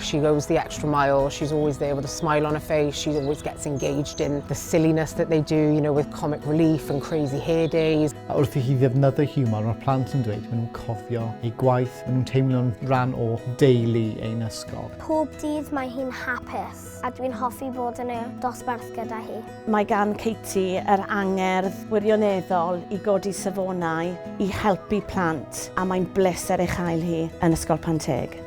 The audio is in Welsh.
She goes the extra mile, she's always there with a smile on her face, she always gets engaged in the silliness that they do, you know, with comic relief and crazy hair days. A wrth i chi ddefnyddio hiwmor, mae'r plant yn dweud, maen nhw'n cofio ei gwaith, maen nhw'n teimlo'n rhan o deulu ein ysgol. Pob dydd mae hi'n hapus, a dwi'n hoffi bod yn y dosbarth gyda hi. Mae gan Katie yr angerdd wirioneddol i godi safonau, i helpu plant, a mae'n bleser ei chael hi yn Ysgol Panteg.